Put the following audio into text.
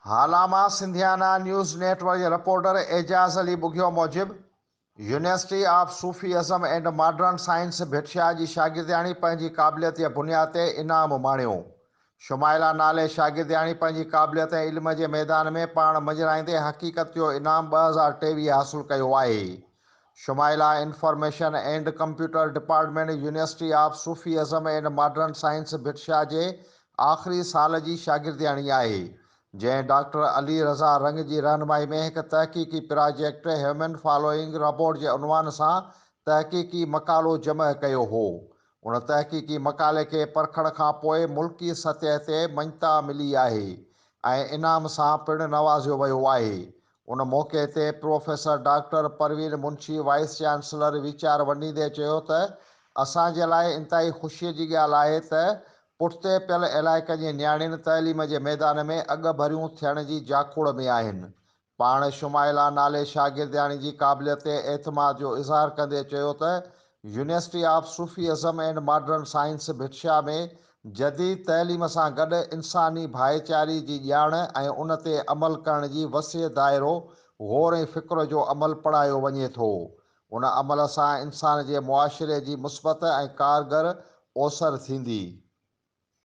هالاما سنڌيانا news network جي reporter Ejaz Ali Bughio موجب، university of Sufism and modern science Bhitshah جي شاگردياڻي پنهنجي قابليت جي بنياد تي انعام ماڻيو. شمائلا نالي شاگردياڻي پنهنجي قابليت ۽ علم جي ميدان ۾ پاڻ مڃرائيندي حقيقت جو انعام ٻه هزار ٽيويهه حاصل ڪيو آهي. Shumaila information and computer department university of Sufism and modern science Bhitshah جي آخري سال جي شاگردياڻي آهي جنهن ڊاڪٽر علي رضا رنگ جي رهنمائي ۾ هڪ تحقيقي پراجيڪٽ هيومن فالوئنگ رابوٽ جي عنوان سان تحقيقي مقالو جمع ڪيو هو ان تحقيقي مقالي کي پرکڻ کان پوء ملڪي سطح تي مڃتا ملي آهي ۽ انعام سان پڻ نوازيو ويو آهي ان موقعي تي professor doctor Parveen Munshi vice chancellor ويچار ونڊيندي چيو ته اسان جي لاء انتهائي خوشي جي ڳالهه آهي ته پٺتي پيل علائقن جي نياڻين تعليم جي ميدان ۾ اڳڀريون ٿيڻ جي جاکوڙ ۾ آهن پاڻ شمائلا نالي شاگردياڻي جي قابليت تي اعتماد جو اظهار ڪندي چيو ته university of Sufism and modern science Bhitshah ۾ جديد تعليم سان گڏ انساني ڀائيچاري جي ڄاڻ ۽ ان تي عمل ڪرڻ جي وسيع دائرو غور ۽ فڪر جو عمل پڙهايو وڃي ٿو. ان عمل سان انسان جي معاشري جي مثبت ۽ ڪارگر اوسر ٿيندي.